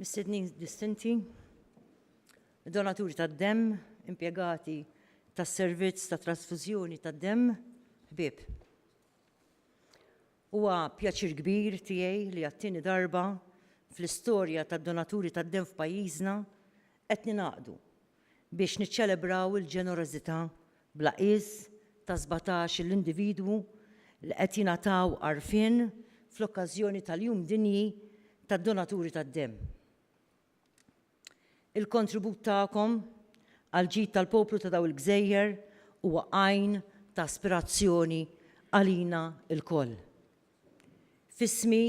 Mistednin distinti, donaturi tad-demm, impjegati tas-servizz ta' trasfużjoni tad-demm, ħbieb. Huwa pjaċir kbir tiegħi li għat-tieni darba fl-istorja tad-donaturi tad-demm f'pajjiżna qed ninaqdu biex niċċelebraw il-ġenerożità bla qies ta' sbatax-il individwu li qed jingħataw għarfien fl-okkażjoni tal-Jum Dinji tad-Donaturi tad-Demm. Il-kontribut tagħkom għall-ġid tal-poplu ta' dawn il-gżejjer huwa għajn ta' aspirazzjoni għalina lkoll. F'ismi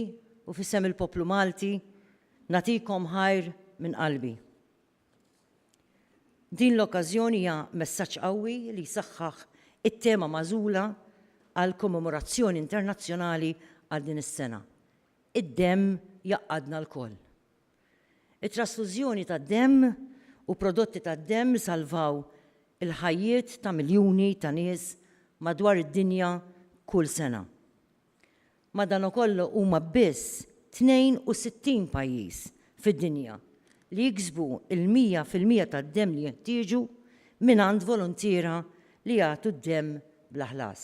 u f'isem il-poplu Malti nagħtikom ħajr minn qalbi. Din l-okkażjoni hija messaġġ qawwi li jsaħħaħ it-tema magħżula għall-Kommemorazzjoni Internazzjonali għal din is-sena, Id-Demm Jgħaqqadna Lkoll. It-trasfużjoni tad-demm u prodotti tad-demm isalvaw il-ħajjiet ta' miljuni ta' nies madwar id-dinja kull sena. Madanakollu huma biss 62 pajjiż fid-dinja li jiksbu l-mija fil-mija tad-demm li jeħtieġu mingħand voluntiera li jagħtu d-demm bla ħlas.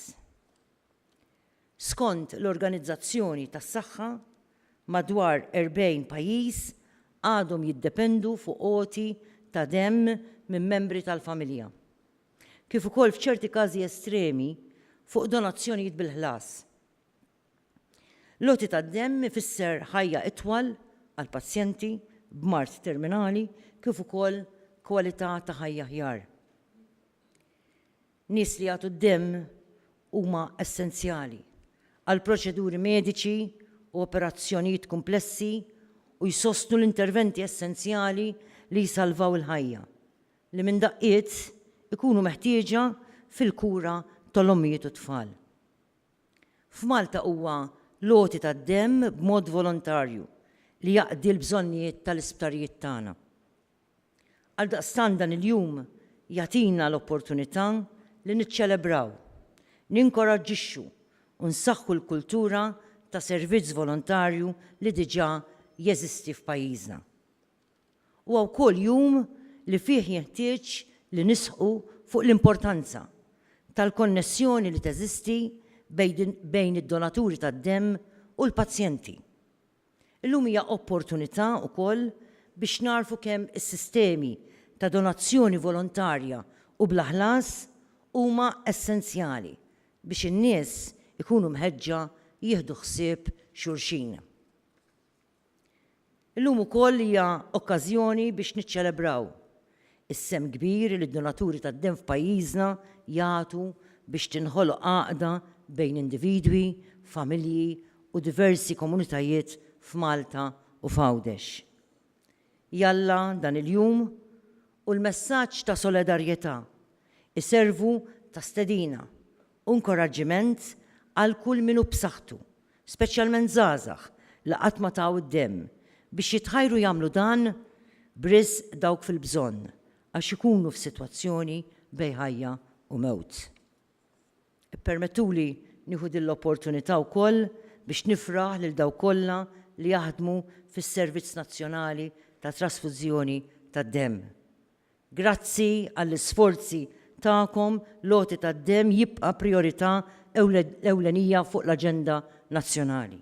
Skont l-Organizzazzjoni tas-Saħħa, madwar 40 pajjiż għadhom jiddependu fuq għoti ta' demm minn membri tal-familja. kif ukoll f'ċerti każi estremi, fuq donazzjonijiet bil-ħlas. L-għoti tad-demm ifisser ħajja itwal għall-pazjenti b'mard terminali kif ukoll kwalità ta' ħajja aħjar. Nies li jagħtu d-demm huma essenzjali għal proċeduri mediċi u operazzjonijiet kumplessi u jsostnu l-interventi essenzjali li jsalvaw il-ħajja. li minn daqqiet ikunu meħtieġa fil-kura tal-ommijiet u t-tfal. F'Malta huwa l-għoti tad-demm b'mod volontarju li jaqdi l-bżonnijiet tal-isptarijiet tagħna. Għaldaqstant dan il-jum jagħtina l-opportunità li niċċelebraw, ninkoraġġixxu u nsaħħu l-kultura ta' servizz volontarju li diġà jeżisti f'pajjiżna. Huwa wkoll jum li fih jenħtieġ li nisħqu fuq l-importanza tal-konnessjoni li teżisti bejn id-donaturi tad-demm u l-pazjenti. Illum hija opportunità wkoll biex nagħrfu kemm is-sistemi ta' donazzjoni volontarja u bla ħlas huma essenzjali biex in-nies ikunu mħeġġa jieħdu ħsieb xulxin. Illum ukoll hija okkażjoni biex niċċelebraw is-sehem kbir li d-donaturi tad-demm f'pajjiżna jagħtu biex tinħoloq għaqda bejn individwi, familji u diversi komunitajiet f'Malta u f'Għawdex. Jalla dan il-jum u l-messaġġ ta' solidarjetà jservu ta' stedina u inkoraġġiment għal kull min hu b'saħħtu, speċjalment żgħażagħ li qatt ma taw id-demm, biex jitħajru jagħmlu dan b'riżq dawk fil-bżonn għax ikunu f'sitwazzjoni bejn ħajja u mewt. Ippermettuli nieħu din l-opportunità wkoll biex nifraħ lil dawk kollha li jaħdmu fis-Servizz Nazzjonali ta' Trasfużjoni tad-Demm. Grazzi għall-isforzi tagħkom l-għoti tad-demm jibqa' prijorità ewlenija fuq l-aġenda nazzjonali.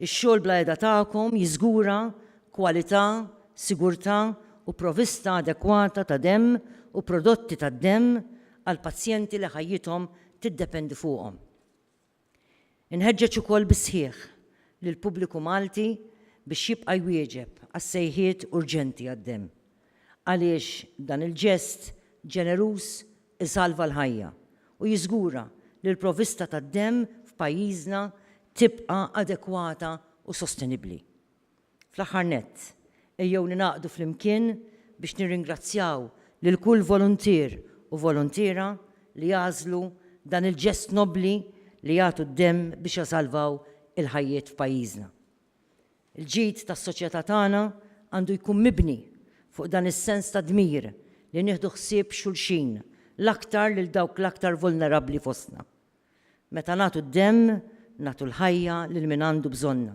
Ix-xogħol bla heda tagħkom jiżgura kwalità, sigurtà u provista adekwata ta' demm u prodotti tad-demm għall-pazjenti li ħajjithom tiddependi fuqhom. Inħeġġeġ ukoll bis-sħiħ lill-pubbliku Malti biex jibqa' jwieġeb għas-sejħiet urġenti għad-demm, għaliex dan il-ġest ġeneruż isalva l-ħajja u jiżgura li l-provvista tad-demm f'pajjiżna tibqa' adekwata u sostenibbli. Fl-aħħar nett, ejjew ningħaqdu flimkien biex nirringrazzjaw lil kull voluntier u voluntiera li għażlu dan il-ġest nobbli li jagħtu d-demm biex jasalvaw il-ħajjiet f'pajjiżna. Il-ġid tas-soċjetà tagħna għandu jkun mibni fuq dan is-sens ta' dmir li nieħdu ħsieb xulxin, l-aktar lil dawk l-aktar vulnerabbli fostna. Meta nagħtu d-demm, nagħtu l-ħajja lil min għandu bżonnha.